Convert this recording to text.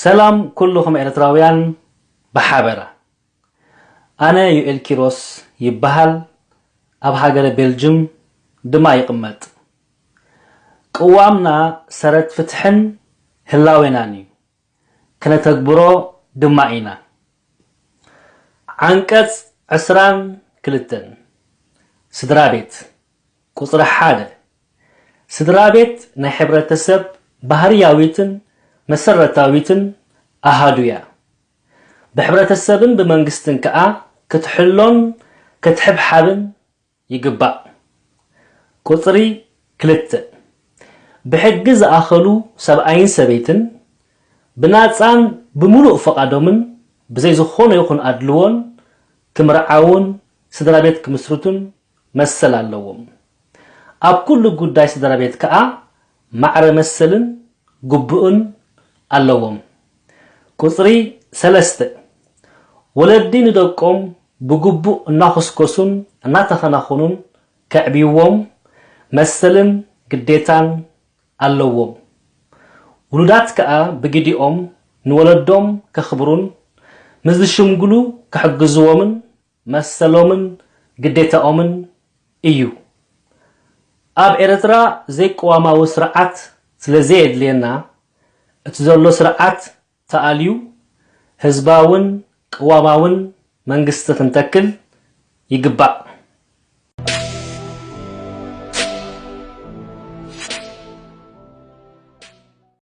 ሰላም ኩሉኹም ኤርትራውያን ብሓበራ ኣነ ዩኤል ኪሮስ ይበሃል ኣብ ሃገረ ቤልጅም ድማ ይቕመጥ ቅዋምና ሰረት ፍትሕን ህላዌናን እዩ ክነተግብሮ ድማ ኢና። ዓንቀጽ ዕስራን ክልተን፣ ስድራ ቤት፣ ቁጽሪ ሓደ፣ ስድራ ቤት ናይ ሕብረተሰብ ባህርያዊትን መሰረታዊትን ኣሃዱ'ያ። ብሕብረተሰብን ብመንግስትን ከኣ ክትሕሎን ከትሕብሓብን፣ ይግባእ። ቁጽሪ ክልተ፣ ብሕጊ ዝኣኸሉ ሰብኣይን ሰበይትን ብናጻን ብምሉእ ፍቓዶምን ብዘይ ዝኾነ ይኹን ኣድልዎን ክምርዓዉን ስድራ ቤት ክምስርቱን መሰል ኣለዎም። ኣብ ኩሉ ጉዳይ ስድራ ቤት ከኣ ማዕረ መሰልን ግቡእን ኣለዎም። ቁጽሪ ሰለስተ፣ ወለዲ ንደቆም ብግቡእ እናኹስኮሱን እናተኸናኹኑን ከዕብይዎም መሰልን ግዴታን ኣለዎም። ውሉዳት ከኣ ብግዲኦም ንወለዶም ከኽብሩን ምስ ዝሽምግሉ ክሕግዝዎምን መሰሎምን ግዴታኦምን እዩ። ኣብ ኤረትራ ዘይቅዋማዊ ስርዓት ስለዘየድልየና እቲ ዘሎ ስርዓት ተኣልዩ ህዝባውን ቅዋማውን መንግስቲ ክንተክል ይግባእ።